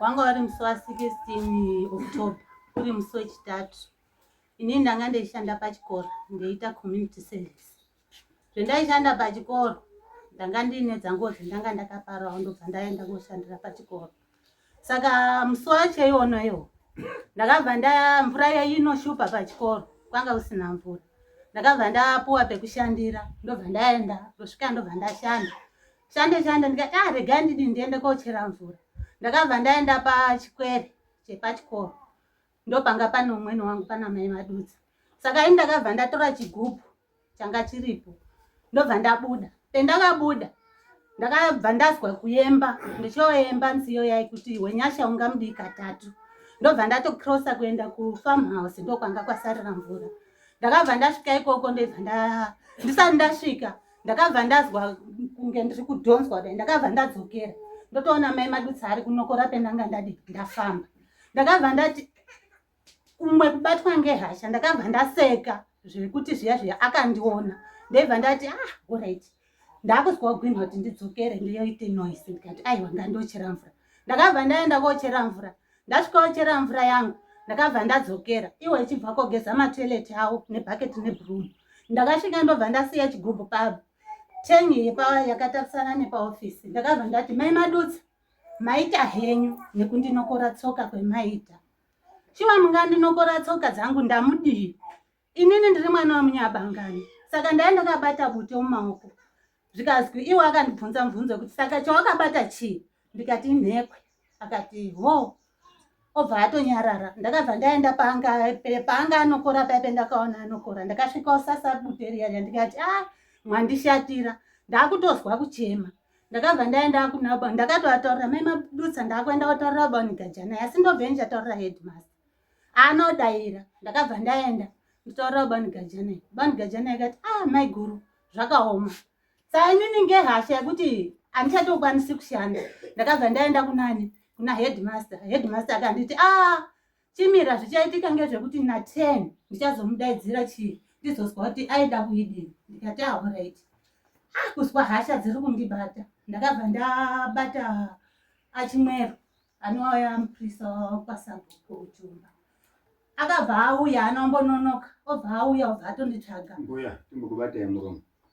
wanga wari musi wa 16 october uri musi wechitatu inini ndanga ndeishanda pachikoro ndeiita community service zvendaishanda pachikoro ndanga ndiine dzangozi ndanga ndakaparawo ndobva ndaenda koshandira pachikoro saka musi wacho iwono iwo ndakabva nda mvura yainoshupa pachikoro kwanga usina mvura ndakabva ndapuwa pekushandira ndobva ndaenda ndosvika ndobva ndashanda shande shande ndikati ah regai ndidi ndiende kochera mvura ndakabva ndaenda pachikwere chepachikoro ndopanga pane umwene wangu pana mai madudzi saka ini ndakabva ndatora chigubhu changa chiripo ndobva ndabuda pendakabuda ndakabva ndazwa kuyemba ndichoyemba nziyo yai kuti wenyasha ungamudii katatu ndobva ndatocrossa kuenda kufarm house ndokwanga kwasarira mvura ndakabva ndasvika ikoko ndobva ndisati ndasvika ndakabva ndazwa kunge ndiri kudhonzwa kudai ndakabva ndadzokera ndotoona mai madutsa ari kunokora pendanga ndadi ndafamba ndakabva ndati umwe kubatwa ngehasha ndakabva ndaseka zvekuti zviya zviya akandiona ndaibva ndati ah orit ndakuzwa kugwinha kuti ndidzokere ndiyoite noise ndikati aiwa ngandochera mvura ndakabva ndaenda kochera mvura ndasvika ochera mvura yangu ndakabva ndadzokera iwo ichibva kogeza matoilet awo nebhaketi nebroom ndakasvika ndobva ndasiya chigubhu pabo tengi yepa yakatarisana nepaofisi ndakabva ndati mai madutsa Maita henyu nekundinokora tsoka kwemaita. Shuwa mungandinokora tsoka dzangu ndamudii? Inini ndiri mwana wamunyabangani saka ndaive ndakabata bute mumaoko zvikanzwi iwe akandibvunza mubvunzo wekuti saka chawakabata chii ndikati inhekwe akati ho obva atonyarara ndakabva ndaenda paanga paanga anokora paipe ndakaona anokora ndakasvika osasa bute riya riya ndikati a ah, mwandishatira ndakutozwa kuchema ndakabva ndaenda kunabon ndakatoataurira mai madutsa ndakuenda kutaurira bonigajana asi ndobve ndichataurira headmaster anodaira ndakabva ndaenda nditaurira bonigajana bonigajana ikati a ah, mai guru zvakaoma saa inini ngehasha yekuti handichatokwanisi kushanda ndakabva ndaenda kunani kuna headmaster headmaster akanditi a ah, Chimira zvichaitika ngezvekuti na 10 ndichazomudaidzira chii ndizozwa kuti aida kuidii ndikati ahoraiti ah, ah kuzwa hasha dziri kundibata ndakabva ndabata achimwero anouya muprisa kwasabhuku uchumba akabva auya anombononoka obva auya obva atonditsvaga mbuya timbokubatai muromo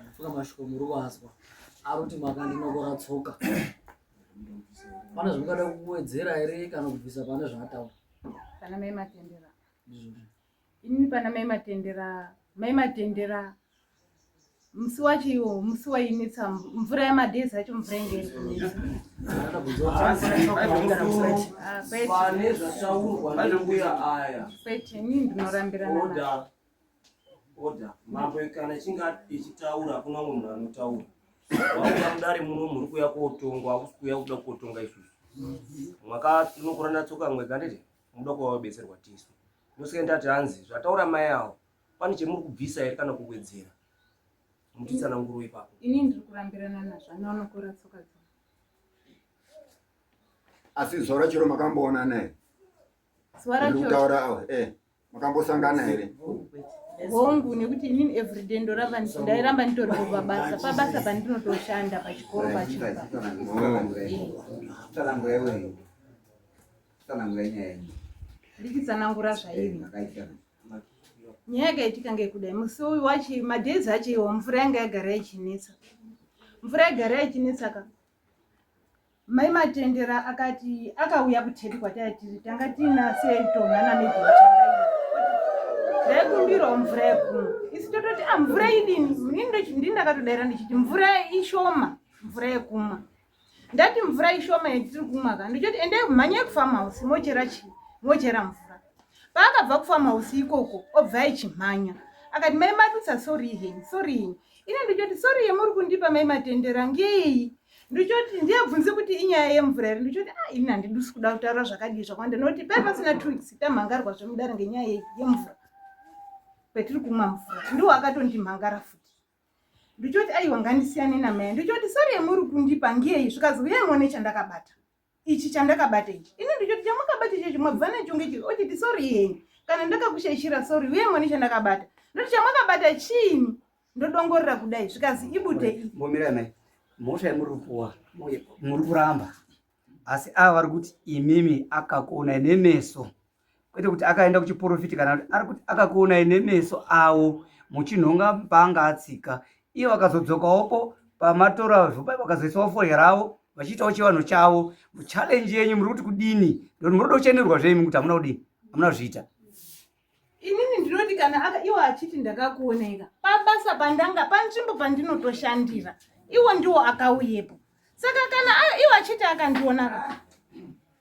Ndapfuka mashoko muri kuazwa. Ari kuti makandinokora tsoka. Pane zvamungada kuwedzera here kana kubvisa pane zvaataura? Pana mai matendera. Ndizvozvo. Ini pana mai matendera, mai matendera. Musi wacho iwo, musi wainetsa mvura yamadhezi acho mvura inge iri kunetsa. Ndakada kubvunza kuti Haasi, pane mashoko haisi amungada musi kusati. uno. Ah, kwete, pane zvataurwa nembuya aya kwete, ini ndinorambirana naye. oda Order. Mambo kana ichinge ichitaura hakuna umwe munhu anotaura. Wauya mudare muno muri kuuya kootongwa, hakusi kuuya kuda kuotonga isusu. Mwaka unokurana tsoka mwega ndete munoda kuva wabetserwa tisu. Ndosaka ndati hanzi zvataura mai avo pane chemuri kubvisa here kana kuwedzera. Mutitsana nguru ipapo. Ini ndiri kurambirana nazvo anoonokora tsoka dzavo. Asi zora chero makamboona naye. kutaura awa eh makambosangana here hongu nekuti inini everyday ndoramba ndairamba nditori pabasa pabasa pandinotoshanda pachikoro pachikoroandikitsanangura zvairi nyaya yakaitika ngekudai musi uyu wachi madhezi acho iwo mvura yanga yagara yachinetsa mvura yagara yachinetsaka Mai Matendera akati akauya kuThepi kwataiya tiri tanga tiina setonha namedia ndaikumbirawo mvura yekumwa isi tototi a ah, mvura idini ndini ndakatodaira ndichiti mvura ishoma mvura yekumwa ndati mvura ishoma yatiri kumwa ka ndichoti endai kumhanyai kufarm house mochera chii mochera mvura paakabva kufarm house ikoko obva aichimhanya akati mai madutsa sorihen sorihen so ine ndichoti sori yemuri kundipa mai matendera ngeyi ndichoti ndiyabvunze kuti inyaya yemvura here ndichoti a ah, ini handidusi kuda kutaura zvakadii zvakwanda nokuti pai pasina two weeks tamhangarwa zvemudare ngenyaya yemvura kwetiri kumwa mvura ndiwo akatondimhangara futi ndichoti aiwa ngandisiyane namaya ndichoti sori yemuri kundipa ngeyi zvikazouya ngone chandakabata ichi chandakabata ichi ini ndichoti chamakabata ichochi mabva nacho ngechi ochiti sori henyu kana ndakakushaishira sori uye mwani chandakabata ndoti chamakabata chiini ndodongorera kudai zvikazi ibute mbomira mai mhosva yamuri kupuwa muri kuramba asi ava vari kuti imimi akakuonai nemeso kwete kuti akaenda kuchiporofiti kana kuti ari kuti akakuonai nemeso avo muchinhonga paanga atsika iye vakazodzokawoko pamatora zvopai vakazoisawo foya ravo vachiitawo chivanhu chavo muchalenji yenyu muri kuti kudini ndoti muroda kuchenderwa zvenyu kuti hamuna kudini hamuna kuzviita inini ndinoti kana iwo achiti ndakakuonaika pabasa pandanga panzvimbo pandinotoshandira iwo ndiwo akauyepo saka kana iwo achiti akandiona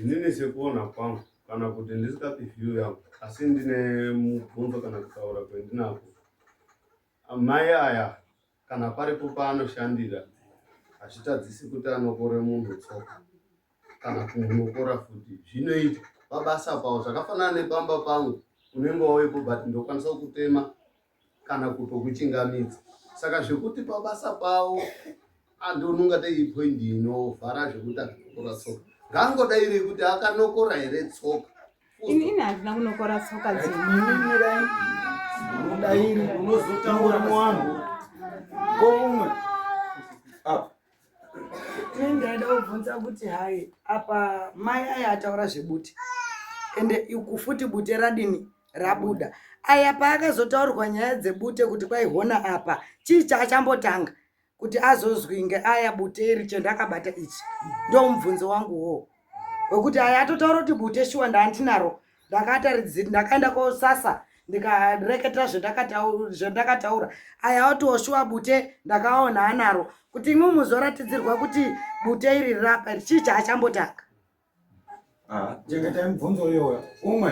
inini sekuona kwangu kana kuti ndisikapi view yangu asi ndine mubvunzo kana kutaura kwendinako amai aya kana paripo paanoshandira hazvitadzisi kuti anokore munhu tsoka kana kumunokora futi zvinoita pabasa pavo zvakafanana nepamba pangu unenge wauyepo but ndokwanisa kutema kana kutokuchingamidza saka zvekuti pabasa pavo andonunga dai point inovhara zvekuti akanokora tsoka ngangoda iri kuti akanokora here tsoka ini ini handina kunokora tsoka dzemirai unodairi unozotaura muwanhu ko umwe apa Ini ndaida kubvunza kuti hai apa mai aya ataura zvebute ende iku futi bute radini rabuda aya paakazotaurwa nyaya dzebute kuti kwaihona apa chii chaachambotanga kuti azozwi ngeaya bute iri chendakabata ichi ndomubvunzo wangu wo wekuti aya atotaura kuti bute shuwa ndaandinaro ndakataridziri ndakaenda kosasa ndikareketera zvendakataura aya oti oshuwa bute ndakaona anaro kuti imwe muzoratidzirwa kuti bute iri rirapa iri chii chaachambotanga ah, chengeta mubvunzo iyoyo umwe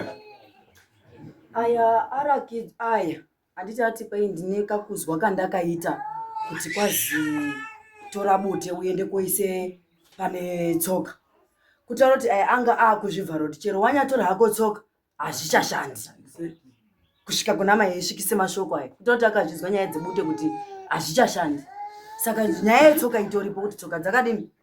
aya arakidz aya Handiti ati kwai ndine kakuzwa kandakaita kuti kwazi tora bute uende koise pane tsoka. Kutaura kuti ayi anga akuzvivhara kuti chero wanyatora hako tsoka hazvichashandi. Kusvika kuna mai esvikise mashoko aya. Kutaura kuti akazvinzwa nyaya dzebute kuti hazvichashandi. Saka nyaya yetsoka itoripo kuti tsoka dzakadini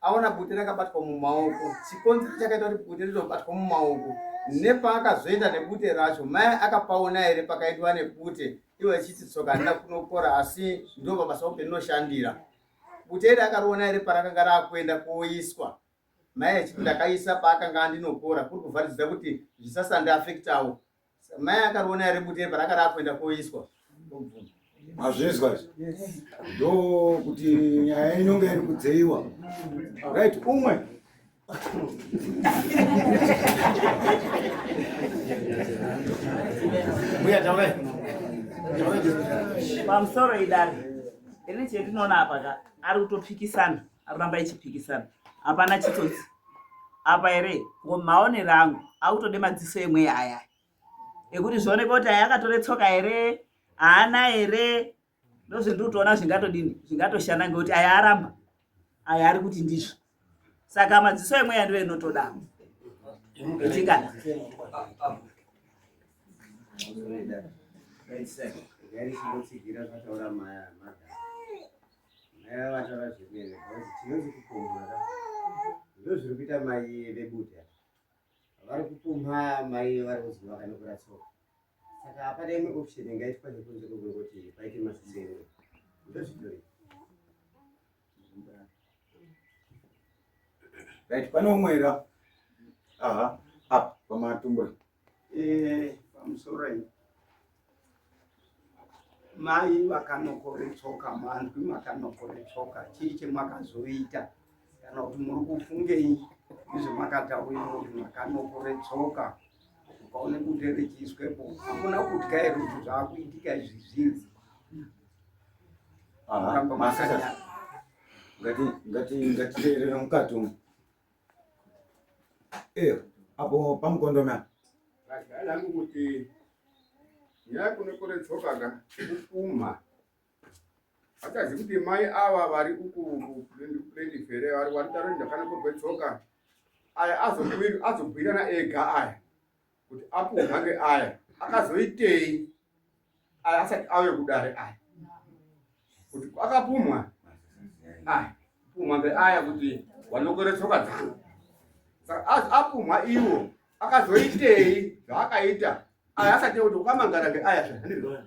aona bute rakabatwa mumaoko chikonzero chakaita kuti bute rizobatwa mumaoko nepaakazoenda nebute racho mai akapaona here pakaitwa nebute ivo achiti tsoka handina kunokora asi ndo pabasa upe ndinoshandira bute iri akariona here parakanga raakuenda kuoiswa mai achiti ndakaisa paakanga andinokora kuri kuvharidzira kuti zvisasandiafektawo Mai akarona here bute parakada kuenda koiswa mazvinzwa ndo kuti nyaya inonge iri kudzeiwa right umwe mbuya taurai pamusoro idari ini chetinoona apa ka ari kutopikisana aramba ichipikisana hapana chitsotsi apa here ngo maonero angu akutode madziso emweya aya ekuti zvioneka kuti aya akatore tsoka here haana here ndozvendiri kutoona zvingatodini zvingatoshanda ngekuti aya aramba aya ari kuti ndizvo saka madziso emweya ndiyo inotoda ichingada vataura zvemene because tinonzi kupumha ka ndozviri kuita mai vebuda vari kupumha mai vari kunzi vakanokura tsoka saka hapana imwe option ingaitwa nekunze kwekungoti paite masiseno ndozvitori right pane umwera aha apa pamatumbura Eh, pamusoroi mai vakanokore tsoka manzwi makanokore tsoka chii chemakazoita kana kuti muri kufungei izvo makataurira kuti makanokore tsoka ukaone kuti richiiswepo hakuna kutya here kuti zvaakuitika izvi zvinzi ngati ngati ngati ngati rerera mukati umu Eh, apo pamukondona. Akadala kuti yakunokore tsoka ka kupuma. Akazi kuti mai ava vari uku uku plendi fere vari vari taro ndakana kurwe tsoka. Aya azobwira azobwira na ega aya. kuti apuhwa mhangwe aya akazoitei aya asati auye kudare aya kuti akapumwa aya pumwa mbe aya kuti wanokore tsoka dzangu saka apumwa iwo akazoitei zvaakaita aya asati kuti ukamangara ngeaya zvahandirona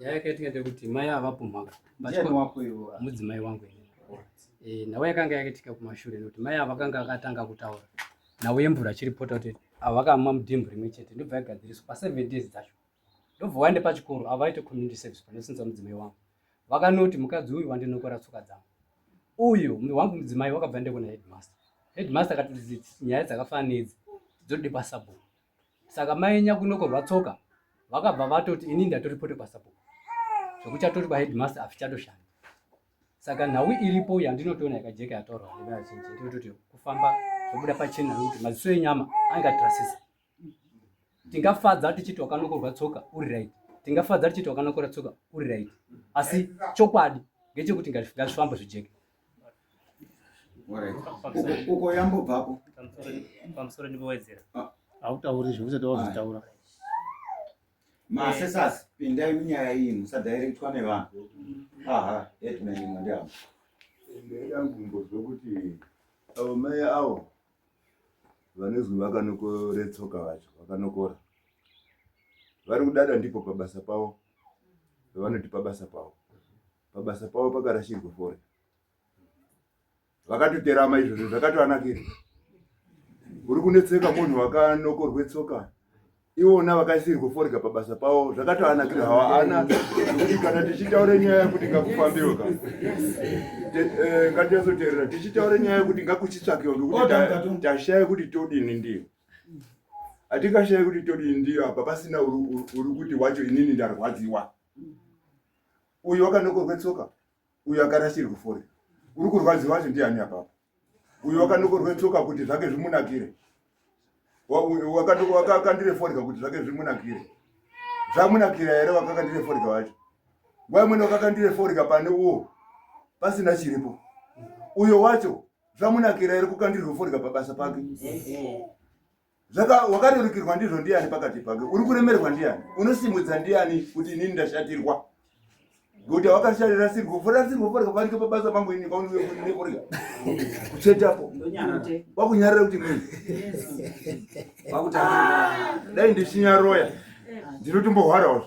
nyaya yakaitika ndekuti mai avapo mhaka mudzimai wangu eh, nhau yakanga yakaitika kumashure nekuti mai avakanga akatanga kutaura nhau yemvura achiripota kuti avakamwa mudhimbu rimwe chete ndobva yagadziriswa paseven days dzacho ndobva waende pachikoro avaite community service panosinza mudzimai wangu vakanoti mukadzi uyu wandinokora tsoka dzangu uyu wangu mudzimai wakabva ndekuna headmaster headmaster akati nyaya dzakafanana nedzi dzodibasabhuku saka mai nyakunoko vatsoka vakabva vatoti ini ndatoripota pasabhuku zvekuchatori kwaheadmaster afichatoshanda saka nhau iripo yandinotoona yakajeka yatorwa nevazhinji ndinototi kufamba zvobuda pachena nokuti maziso enyama angatrasisa tingafadza tichiti wakanokorwa tsoka uri right tingafadza tichiti wakanokora tsoka uri right asi chokwadi ngechekuti ngazvifambo zvijeke uko yambobvapo pamusoro ndipowedzera ah. hautauri zvekuti tawazvitaura masesas pindai munyaya iyi musadhairektwa nevanhu aha headman imwe ndiavo ndaida kumbozwa kuti avo mai avo vanozwi vakanokoretsoka vacho vakanokora vari kudada ndipo pabasa pavo vavanoti pabasa pavo pabasa pavo pakarashirwa fore vakatoterama izvozvo zvakatoanakira uri kunetseka munhu wakanokorwe tsoka iwona vakaisirwa forega pabasa pavo zvakatoanakira hawa ana kuti kana tichitaure nyaya yekuti ngakufambiwe ka eh, ngatiyazoteerera tichitaure nyaya yekuti ngakuchitsvakiwa ngekuti tashaya kuti todini ndiyo atikashaya kuti todini ndiyo apa pasina uri kuti wacho inini ndarwadziwa uyo wakanokorwa tsoka uyo akarasirwa fore uri kurwadziwa wacho ndiani apapo uyo wakanokorwa tsoka kuti zvake zvimunakire wakakandire foreka kuti zvake zvimunakire zvamunakira here wakakandire foreka wacho nguva imweni wakakandire foreka pane uwo pasina chiripo uyo wacho zvamunakira here kukandirwa foreka pabasa pake zvaka wakarerukirwa ndizvo ndiani pakati pake uri kuremerwa ndiani unosimudza ndiani kuti inini ndashatirwa ngokuti awakasharira sirwo fora sirwo forya panike pabasa pangu ini paunike kunine forya kuchetapo wakunyarira kuti mini dai ndichinyaroya ndinotombohwarawo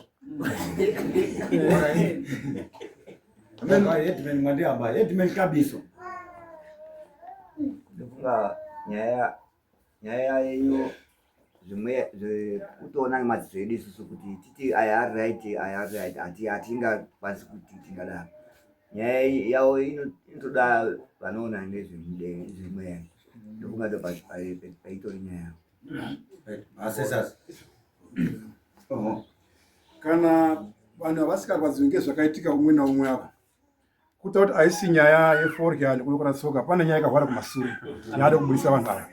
headman mwandihamba headman kabiso ndofunga nyaya nyaya yenyu zvimwe zvekutoona nemadziso edu isusu kuti titi aya ari right aya ari right hatingakwanisi kuti tingadaro nyaya yavo inotoda vanoona nezvemweya ndofunga ndo paitori nyaya yavo kana vanhu havasingakwadziwi ngezvakaitika umwe naumwe ava kuta kuti haisi nyaya yeforya nekunokora tsoka pane nyaya ikahwara kumasure yaada kubudisa vanhu ava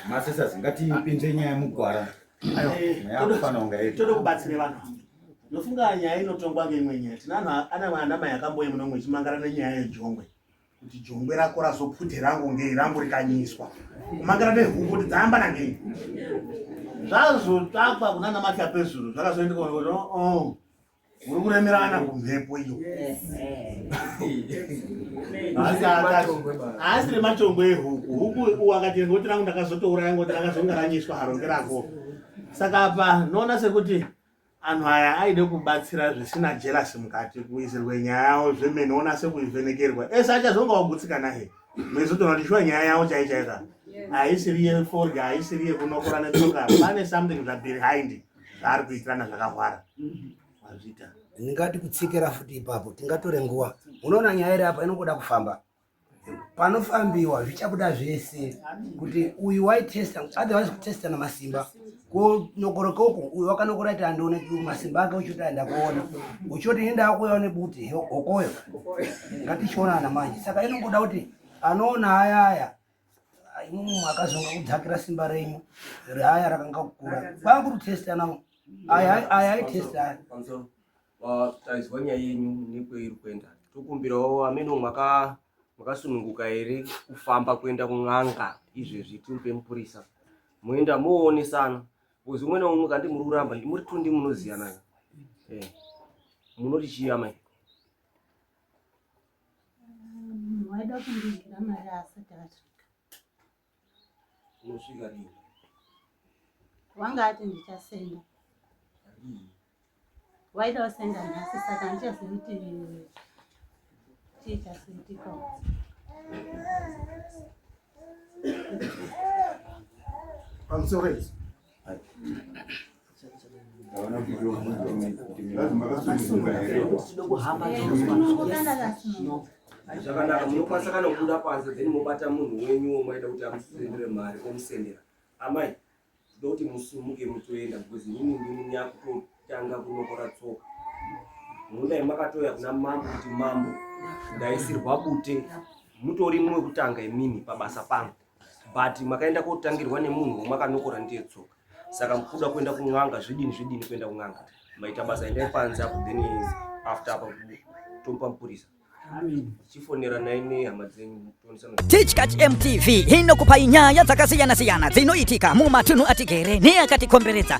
masisas ngatipinze nyaya mugwara tode kubatsira vanhu ndofunga nyaya inotongwa ngeimwe nyaya tina ana mai akamboye munomwe ichimangara nenyaya yejongwe kuti jongwe rako razopute rangu ngei rangu rikanyiswa kumangira nehuku kuti dzayamba nangei zvazotsvakwa kunana matya pezuru zvakazoendeka kuti oh, oh, uri kuremerana kumhepo iyo haasi remachongwe ehuku huku uwakati ngoti rangu ndakazotouraya ngoti rakazonga ranyiswa haronge rako saka apa noona sekuti Anhu aya aide kubatsira zvisina jealousy mukati kuisirwe nyaya yawo zvemene onase kuivhenekerwa ese achazonga wagutsikana he maizotoona kuti shuwa nyaya yawo chai chai ka haisiri yeforya haisiri yekunokora netsoka pane something zvabehind zvaari kuitirana zvakahwara mazvita ndingati kutsikira futi ipapo tingatore nguva unoona nyaya iri apa inongoda kufamba panofambiwa zvichabuda zvese kuti uyu waitesta otherwise kutesta namasimba konokoroka uku uyu wakanokora ti andiona masimba ake uchoti aenda kuona uchoti enda akuya une buti hokoyo ngatichionana manje saka inongoda kuti anoona aya aya imumwe akazonga kudzakira simba renyu reaya rakanga kukura kwakutotesta navo aya aitesta aya taizwa nyaya yenyu nekweiri kuenda tokumbirawo ameno mwaka makasununguka here kufamba kuenda kun'anga izvezvi timupe mupurisa moenda moonesana bcoz umwe naumwe kandi muri kuramba ndimuri tundi munoziyana eh, munoti chiya mai waida kundigira mari asati asvika unosvika rini wanga ati ndichasenda waida wasenda nhasi saka handichazivi kuti chii chasiitika I'm sorry. zvakanaka munokwanisa kana kubuda panze then mobata munhu wenyu womaida kuti amusendere mari omusendera amai tinoda kuti musumuke mutoenda because inini ndini nyakutotanga kunokora tsoka munodai makatoya kuna mambo kuti mambo ndaisirwa bute mutori mumwe kutanga imini pabasa pangu but makaenda kotangirwa nemunhu wamakanokora ndiye tsoka saka mukuda kuenda kun'anga zvidini zvidini kuenda kun'anga maita basa endai panze apo then after apa tomupa mupurisa tichkach mtv inokupai nyaya dzakasiyana-siyana dzinoitika mumatunhu atigere neakatikomberedza